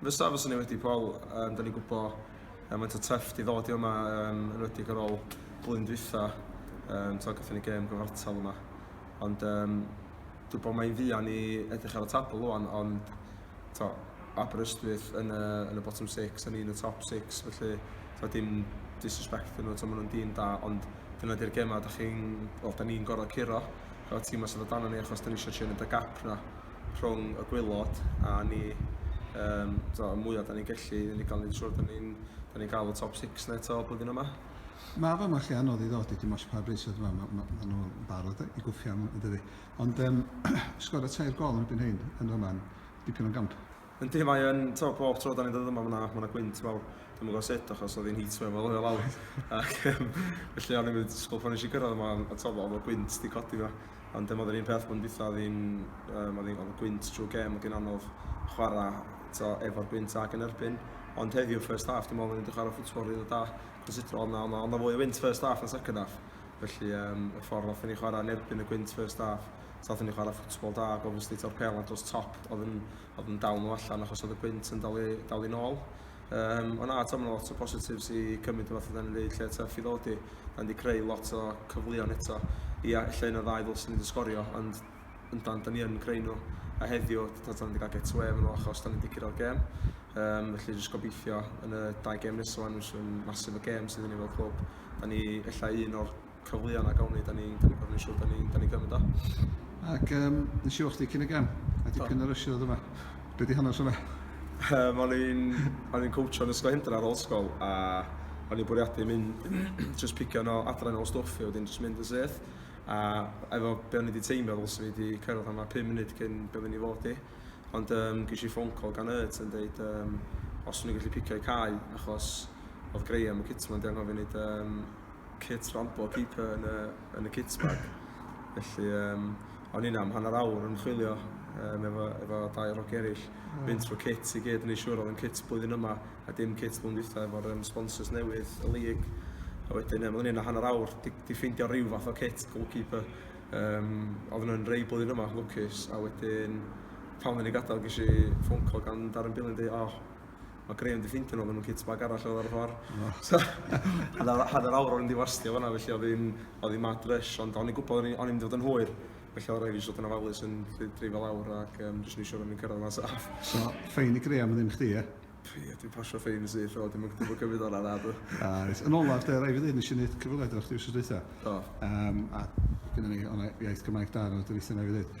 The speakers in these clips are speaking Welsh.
Fysa, fysa ni wedi Paul, um, da ni gwybod um, mae'n ta treff di ddod i yma um, yn wedi ar ôl blwyddyn dwytha, um, ta gatho ni gêm gyfartal yma. Ond um, dwi'n bod mae'n fuan i edrych ar y tabl o'n, ond to, Aberystwyth yn y, yn y bottom 6 a ni'n y top 6 felly to, dim disrespect yn nhw to, maen nhw'n dîm da ond dyna di'r gemau da chi'n well, da ni'n gorau curo efo tîmau sydd o dan ni achos da ni eisiau trin y gap na rhwng y gwaelod a ni um, so, y mwyaf da ni'n gallu i ni gael ni'n siŵr da ni'n ni gael y top 6 na eto blwyddyn yma. Mae fama chi anodd i ddod i dim os pa bris oedd yma, mae ma, ma nhw barod i gwffio am ydy. Ond um, sgor y tair gol yn y byn hyn, yn yma, dipyn o'n gamp. Yndi mae yn, t'o' pob tro 'dan ni'n dod yma ma' 'na ma' 'na gwynt mawr. Dwi'm yn gw'o' sut achos o'dd hi'n heatwave ma' o lawr ac yym felly o'n i'm yn disgwl pan nesh i gyrradd yma on' t'o' ma' ma' gwynt 'di codi 'ma ond yym o'dd yr un peth blwyddyn dwitha o'dd 'i'n yym o'dd 'i'n o'dd y gwynt trw'r gêm o'dd 'i'n anodd chwara' t'o' efo'r gwynt ag yn erbyn ond heddiw first half dwi me'wl o'n i 'di chwara' football rili da considro o'dd 'na o'dd 'na o'dd 'na fwy o wynt first half na second half felly yym y ffor nathon ni chwara' yn erbyn y gwynt first half So aethon ni chwarae ffwtbol da ac obviously taw'r pêl na dos top oedd yn, oedd yn dal nhw allan achos oedd y gwynt yn dal i, dal i nôl. Um, ond na, taw lot o positives i cymryd o fath oedden ni'n dweud lle tuff i ddod i. Da ni wedi creu lot o cyfleon eto. Ia, lle yna ddau ddylsyn ni wedi sgorio, ond yndan, da ni yn creu nhw. A heddiw, da ni wedi cael get away efo nhw achos da ni wedi curo'r gêm. Um, felly jyst gobeithio yn y dau gêm nesaf, nhw'n masif o gêm sydd gen ni fel clwb. Da ni efallai un o'r cyfleon na gawn ni 'dan ni'n 'dan ni'n gor'o' neu' siŵr 'dan ni'n 'dan ni'n cymryd o. Ac yym nes i weld chdi cyn y gem a dipyn o ryshio o'dd yma. Be' 'di hanes hwnna? Yym o'n i'n o'n i'n cowtio yn Ysgol Hendra ar ôl ysgol a o'n i'n bwriadu mynd jyst picio yno adra nôl stwff a wedyn jyst mynd yn syth a efo be' o'n i 'di teimlo ddylse fi 'di cyrraedd yma pum munud cyn be' oddwn i fod i ond yym ges i ffôn call gan Ert yn deud yym os o'n i'n gallu picio'u cau achos o'dd Graham y cytman 'di anghofio neud yym kit rampo keeper yn y, yn y kit bag. Felly, um, o'n i'n am hanner awr yn chwilio um, efo, efo dau rog eraill. Mm. Fynd trwy kit i gyd yn ei siwr oedd yn kit blwyddyn yma a dim kit blwyddyn dwytha efo'r um, sponsors newydd y lig. A wedyn, um, o'n i'n hanner awr di, di ffeindio rhyw fath o kit goalkeeper. Um, oedd nhw'n rei blwyddyn yma, lwcus. A wedyn, pan o'n i'n gadael, gysi ffôn call gan Darren Billy yn dweud, oh, Mae Graham di ffeindio nhw, maen nhw'n kit bag arall oedd ar y ffordd. Oh. So, hanner, hanner awr o'n i'n diwastio fanna, felly oedd hi'n oedd hi'n mad rush, ond o'n i'n gwybod o'n i'n mynd i fod yn hwyr. Felly oedd rhaid i fod yn ofalus yn dreifio lawr ac um, jyst nisio rhywun cyrraedd yna saf. So, ffein i Graham yn ddim chdi, e? Ie, dwi'n pasio ffein yn syth, o, dim yn gwybod cymryd o'n arad. Yn olaf, de, rhaid i ddyn, nes i wneud cyfweliad o'r chdi wrth ddweud. Um, a gyda ni, o'n iaith Gymraeg da, o'n dyweithio na i ddweud.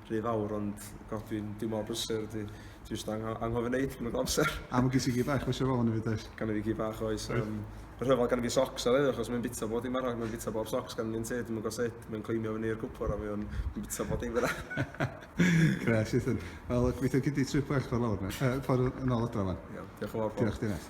rhy fawr ond god dwi'n dwi mor brysur dwi dwi jyst ang anghofio neud yn y amser. A mae gen ti gi bach mae eisiau fel yn y fyd oes? Gan i fi gi bach oes. Um, y rhyfel gan i fi socs ar achos mae'n bita bod i'n marach, mae'n bita bob socs gan ni'n te, dim yn gosod, mae'n cleimio fyny i'r gwpwr a mae'n bita bod i'n fyna. Gres, Ethan. Wel, gweithio gyd i trip bach ffordd lawr, uh, ffordd yn ôl adra fan. Iawn, diolch yn fawr. Diolch, Dinas.